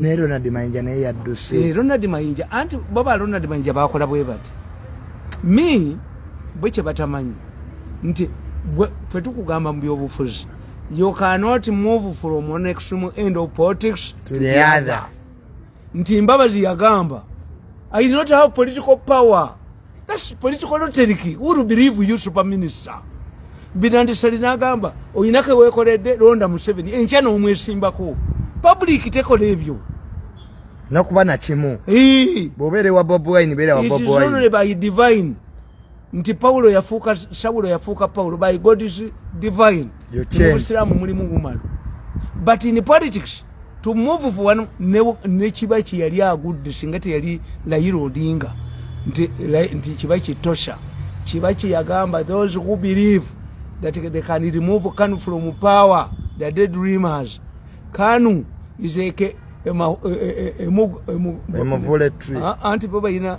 naye ronald mayinja naye yadduse eh, ronald mayinja anti baba ronald mayinja bakola bwe bati mi bwe kye batamanyi nti ffe tukugamba mu byobufuzi you cannot move from one extreme end of politics to the other nti mbabazi yagamba i not have political power That's political logic. Who will believe you, super minister? Binandi Salina Gamba, or Inaka Wekorede, Ronda Museveni, and Chano Mwesimbako. Public take a review. Nakuba na chimu. Hey. Bobere wa Bob Wine, Bere wa Bob Wine. It is only by divine. Nti Paulo ya fuka, Saulo ya fuka Paulo, by God is divine. You change. Muslimu mulimu gumalu. But in politics, to move for one ne ne kibaki yali agudde singa teyali layira odinga nti nti kibaki tosha kibaki yagamba those who believe that they can remove kanu from power the dead dreamers kanu is a emuvule tree anti baba ina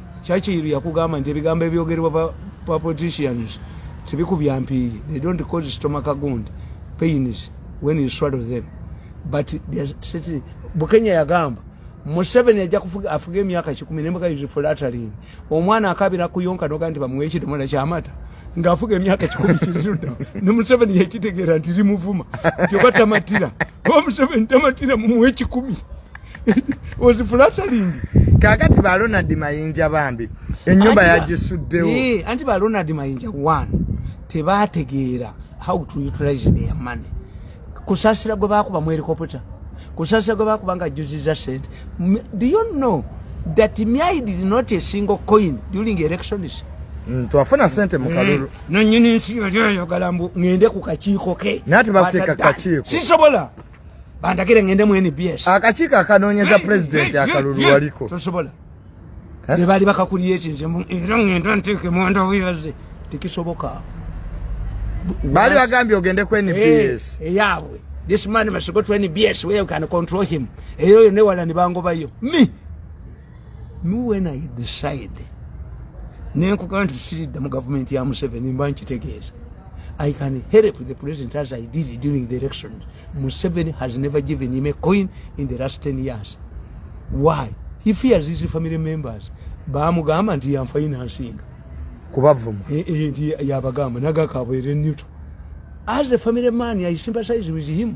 Churchill yakugamba nti ebigambo ebyogerwa pa, pa politicians tebikubya mpiiye. They don't cause stomach wound pains when you swallow them. But they are sitting. Bukenya yagamba Museveni ajja kufuga afuga emyaka kikumi nembuga is flattering. Omwana akabira kuyonka noga nti bamuwe ekidomola kyamata ng'afuga emyaka kikumi kiriruddawo ne museveni yakitegeera nti limuvuma nti oba tamatira oba museveni tamatira mumuwa ekikumi was flattering kakati ba Ronald Mayinja bambi enyumba yagisuddewo eh anti ba Ronald Mayinja one tebategeera how to utilize their money kusasira gwe bakuba mu helicopter kusasira gwe bakuba nga juziza sente do you know that myai did not a single coin during elections mm, twafuna sente mukalulu mm. nonyini nsi yali oyagala mbu ngende ku kakiiko ke nati bakuteeka kakiiko sisobola bandagire ngende mu nbs akakiiko akanoonyeza pulezidenti akalulu waliko tosobola eh? bebaali bakakulira eki nze era ngenda nteeke mwandavu yaze tekisoboka baali bagambye ogende ku nbs eh, eyaabwe this man must go to nbs where you can control him era oyo newala nibangobayo mi me when i decide nenkugaa nti tusiridda mu gavumenti ya museveni mba nkitegeeza i can help the president as i did during the election museveni has never given him a coin in the last 10 years why he fears his family members bamugamba nti yanfainansinga kubavuma eh, eh, nti yabagamba nagakabwere newto as a family man i sympathize with him